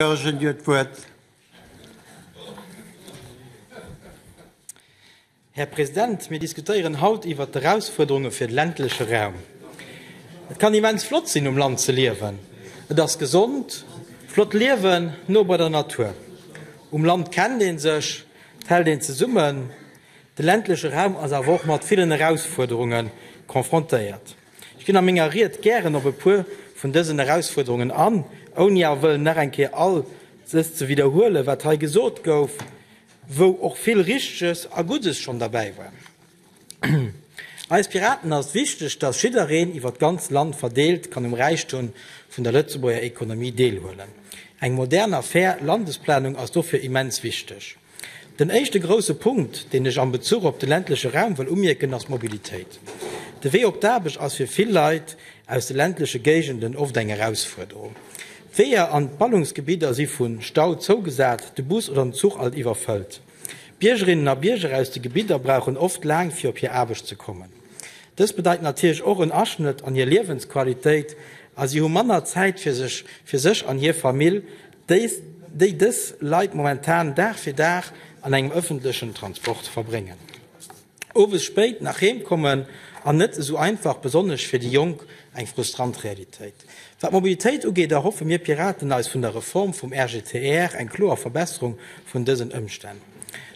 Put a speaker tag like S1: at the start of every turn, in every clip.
S1: Goergen, Dir hutt d'Wuert. Här President, mir diskutéieren haut iwwert d'Erausfuerderunge fir de ländleche Raum. Et kann immens flott sinn, um Land ze liewen. Et ass gesond, flott liewen, no bei der Natur. Um Land kennt ee sech, et hält een zesummen. De ländleche Raum ass awer och mat villen Erausfuerderunge confrontéiert. Ech ginn a menger Ried gären op e puer vun dësen Erausfuerderungen an, ouni awer wëllen nach eng Kéier all ses ze widderhuelen, wat hei gesot gouf, wou och vill Richteges a Guddes schonn derbäi war. Eis Piraten ass wichteg, dass jiddereen iwwert d'ganz Land verdeelt kann um Räichtum vun der Lëtzebuerger Ekonomie deelhuelen. Eng modern a fair Landesplanung ass dofir immens wichteg. Den éischte grousse Punkt, deen ech am Bezuch op de ländleche Raum wëll umierken, ass d'Mobilitéit. De Wee op d'Aarbecht ass fir vill Leit aus de ländleche Géigenden oft eng Erausfuerderung. D'Weeër an d'Ballungsgebidder si vu Stau zougesat, de Bus oder den Zuch alt iwwerfëllt. Biergerinnen a Bierger aus de Gebidder brauchen oft laang, fir op hir Aarbecht ze kommen. Dëst bedeit natierlech och en Aschnëtt an hir Liewensqualitéit a si hu manner Zäit fir sech, fir sech an hir Famill. déi dës Leit momentan Dag fir Dag an engem ëffentlechen Transport verbréngen, owes spéit nach heem kommen an net esou einfach, besonnesch fir déi Jonk, eng frustrant Realitéit. Wat d'Mobilitéit ugeet, erhoffe mir Piraten eis vun der Reform vum RGTR eng kloer Verbesserung vun dësen Ëmstänn.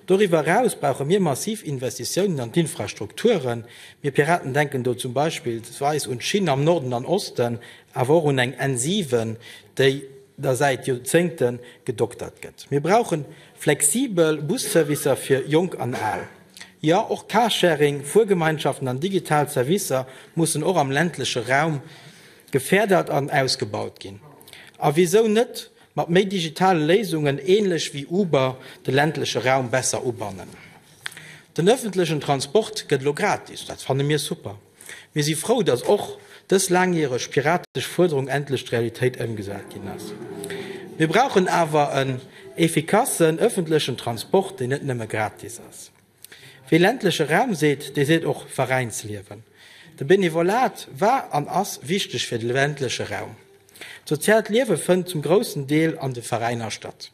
S1: Doriwwer eraus brauche mir massiv Investitiounen an d'Infrastrukturen. Mir Piraten denken do zum Beispillsweis un d'Schinn am Norden an Osten, awer och un eng N7, déi, der säit Joerzéngte gedoktert gëtt. Mir brauche flexibel Busservicer fir Jonk an Al. Jo, och Carsharing, Fuergemeinschaften an digital Servicer mussen och am ländleche Raum geférdert an ausgebaut ginn. A wisou net mat méi digitale Léisungen, ähnlech wéi Uber, de ländleche Raum besser ubannen? Den öffentlechen Transport gëtt elo gratis, dat fanne mir super. Mir si frou, dass och dës laangjäreg piratesch Fuerderung endlech d'Realitéit ëmgesat ginn ass. Mir brauchen awer en effikassen ëffentlechen Transport, deen net nëmme gratis ass. Wie ländleche Raum seet, dee seet och Veräinsliewen. De Benevolat war an ass wichteg fir de ländleche Raum. D'soziaalt Liewe fënnt zum groussen Deel an de Veräiner statt.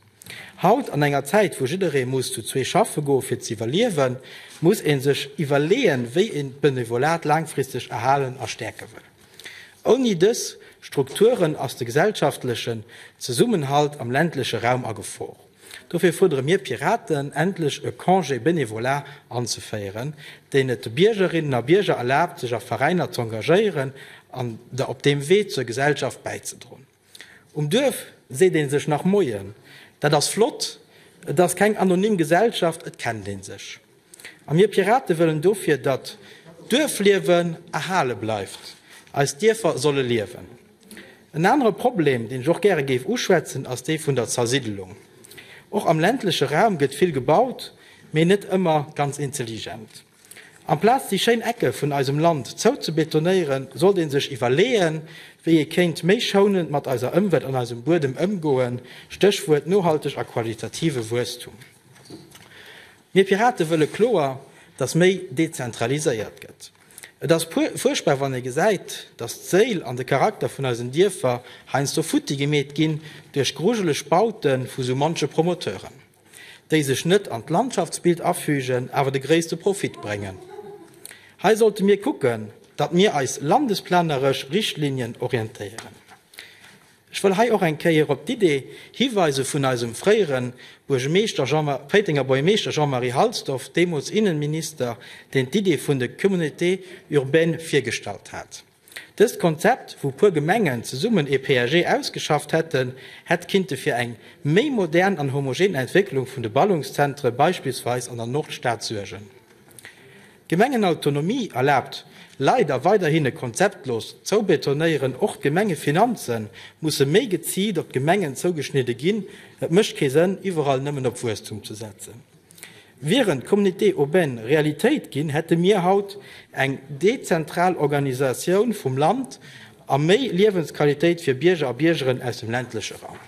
S1: Haut, an enger Zäit wou jidderee muss zu zwee schaffe goe fir z'iwwerliewen, muss ee sech iwwerleeën, wéi een d'Benevolat laangfristeg erhalen a stäerke wëll. Ouni dës Strukturen ass de gesellschaftlechen Zesummenhalt am ländleche Raum a Gefor. Dofir fuerdere mir Piraten, endlech e Congé bénévolat anzeféieren, deen et de Biergerinnen a Bierger erlaabt, sech a Veräiner z'engagéieren an op deem Wee zur Gesellschaft bäizedroen. Um Duerf seet een sech nach Moien. Dat ass flott, et ass keng anonym Gesellschaft, et kennt een sech. A mir Piraten wëllen dofir, datt d'Duerfliewen erhale bleift. Eis Dierfer solle liewen. En anere Problem, deen ech och gäre géif uschwätzen, ass dee vun der Zersiddelung. Och am ländleche Raum gëtt vill gebaut, mee net ëmmer ganz intelligent. Amplaz déi schéin Ecke vun eisem Land zouzebetonéieren, sollt ee sech iwwerleeën, wéi ee kéint méi schounend mat eiser Ëmwelt an eisem Buedem ëmgoen, Stéchwuert nohalteg a qualitative Wuesstum. Mir Pirate wëlle kloer, datt méi dezentraliséiert gëtt. Et ass fuerchtbar wann ee gesäit, datt d'Séil an de Charakter vun eisen Dierfer heiansdo futti gemeet ginn duerch grujeleg Baute vu sou munche Promoteuren. déi sech net an d'Landschaftsbild afügen, awer de gréisste Profit bréngen. Hei sollte mir kucken, datt mir eis landesplaneresch Richtlinien orientéieren. Ech wëll hei och eng Kéier op d'Idee hiweise vun eisem fréiere Buergermeeschter, Péitenger Buergermeeschter Jean-Marie Halsdorf, deemools Innenminister, deen d'Idee vun de Communautés urbaines virgestallt hat. Dëst Konzept, wou puer Gemengen zesummen ee PAG ausgeschafft hätten, hätt kinnte fir eng méi modern an homogen Entwécklung vun de Ballungszentre beispillsweis an der Nordstad suergen. D'Gemengenautonomie erlaabt leider weiderhin e konzeptlos Zoubetonéieren. Och d'Gemengefinanze musse méi geziilt op d'Gemengen zougeschnidde ginn. Et mécht kee Sënn, iwwerall nëmmen op Wuesstum ze setzen. Wieren d'Communautés urbaines Realitéit ginn, hätte mir haut eng dezentral Organisatioun vum Land a méi Liewensqualitéit fir Bierger a Biergeren aus dem ländleche Raum.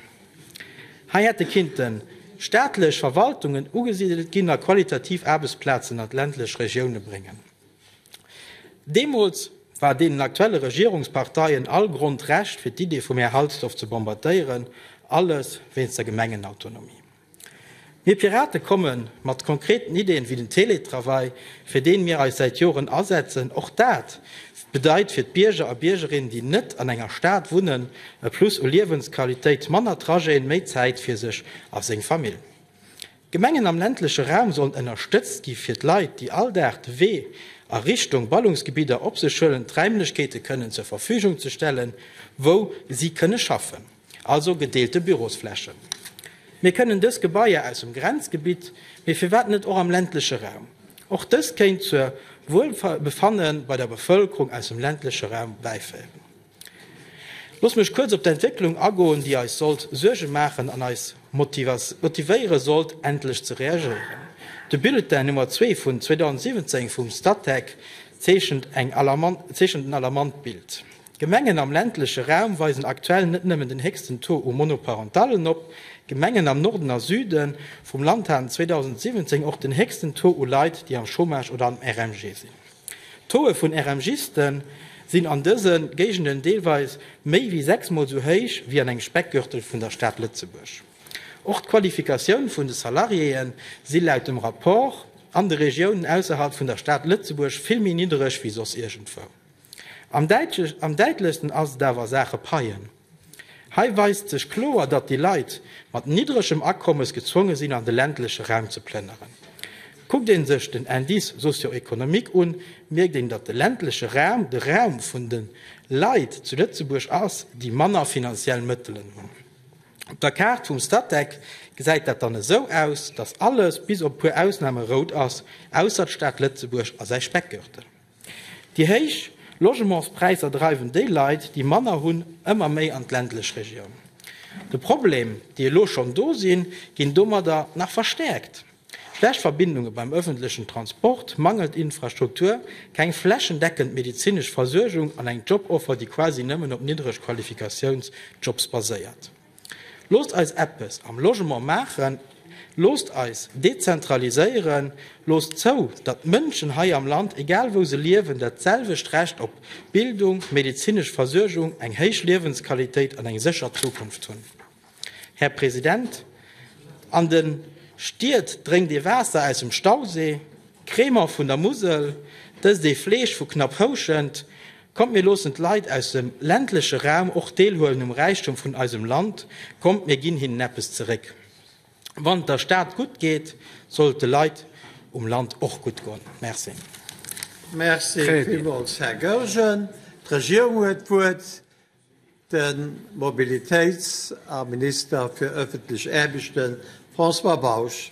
S1: Hei hätte kinnten staatlech Verwaltungen ugesidelt ginn a qualitativ Aarbechtsplazen an d'ländlech Regioune bréngen. Deemools war deenen aktuelle Regierungsparteien all Grond, Recht fir d'Idee vum Här Halsdorf ze bombardéieren, alles wéinst der Gemengenautonomie. Mir Pirate komme mat konkreten Ideen, wéi den Teletravail, fir deen mir eis säit Joren asetzen. Och dat bedeit fir d'Bierger a Biergerinnen, déi net an enger Stad wunnen, e Plus u Liewensqualitéit, manner Trajeten, méi Zäit fir sech a seng Famill. D'Gemengen am ländleche Raum sollen ënnerstëtzt gi fir d'Leit, déi all Dag de Wee a Richtung Ballungsgebidder op sech huelen, d'Räimlechkeete kënnen zur Verfügung ze stellen, wou si kënne schaffen. Also gedeelte Bürosflächen. Mir kënnen dës Gebaier aus dem Grenzgebitt, mee firwat net och am ländleche Raum? Och dëst kéint zur Wuelbefanne bei der Bevëlkerung aus dem ländleche Raum bäiféieren. Looss mech kuerz op d'Entwécklung agoen, déi eis sollt Suerge maachen an eis motivéiere sollt, endlech ze reagéieren. De Bulletin Nummer zwee vun 2017 vum Statec zeechent en alarmant Bild. D'Gemengen am ländleche Raum weisen aktuell net nëmmen den héchsten Taux u Monoparentallen op. D'Gemengen am Norden a Süde vum Land haten 2017 och den héchsten Taux u Leit, déi am Chômage oder am RMG sinn. D'Tauxë vun RMGiste sinn an dëse Géigenden deelweis méi wéi sechs Mol esou héich wéi an engem Speckgürtel vun der Stad Lëtzebuerg. Och d'Qualifikatioun vun de Salariéë si laut dem Rapport an de Regiounen ausserhalb vun der Stad Lëtzebuerg vill méi niddereg wéi soss iergendwou. Am däitlechsten ass et awer a Saache Paien. Hei weist sech kloer, datt déi Leit mat niddregem Akommes gezwonge sinn, an de ländleche Raum ze plënneren. Kuckt ee sech den Indice socio-économique un, mierkt een, datt de ländleche Raum de Raum vun de Leit zu Lëtzebuerg ass, déi manner finanziell Mëttelen hunn. Op der Kaart vum Statec gesäit dat dann esou aus, datt alles, bis op e puer Ausname, rout ass, ausser d'Stad Lëtzebuerg a säi Speckgürtel. Déi héich Logementspräisser dreiwen déi Leit, déi manner hunn, ëmmer méi an d'ländlech Regioun. De Problem, déi elo schonn do sinn, ginn domadder nach verstäerkt, schlecht Verbindunge beim ëffentlechen Transport, mangelnd Infrastruktur, keng flächendeckend medezinesch Versuergung an eng Joboffer, déi quasi nëmmen op niddreg Qualifikatiounsjobs baséiert. Loosst eis eppes am Logement maachen, loosst eis dezentraliséieren, loosst zou, datt d'Mënschen hei am Land, egal wou se liewen, dat selwecht Recht op Bildung, medezinesch Versuergung, eng héich Liewensqualitéit an eng sécher Zukunft hunn. Här President, an de Stied drénkt ee Waasser aus dem Stausee. Crémant vun der Musel, dëst ee Fleesch vu knapp Houschent. Kommt mir loossen d'Leit aus dem ländleche Raum och deelhuelen um Räichtum vun eisem Land, kommt mir ginn hinnen eppes zeréck. Wann et der Stad gutt geet, soll et de Leit um Land och gutt goen. Merci.
S2: Merci villmools, Här Goergen. D'Regierung huet d'Wuert. De Mobilitéits a Minister fir ëffentlech Aarbechten, François Bausch.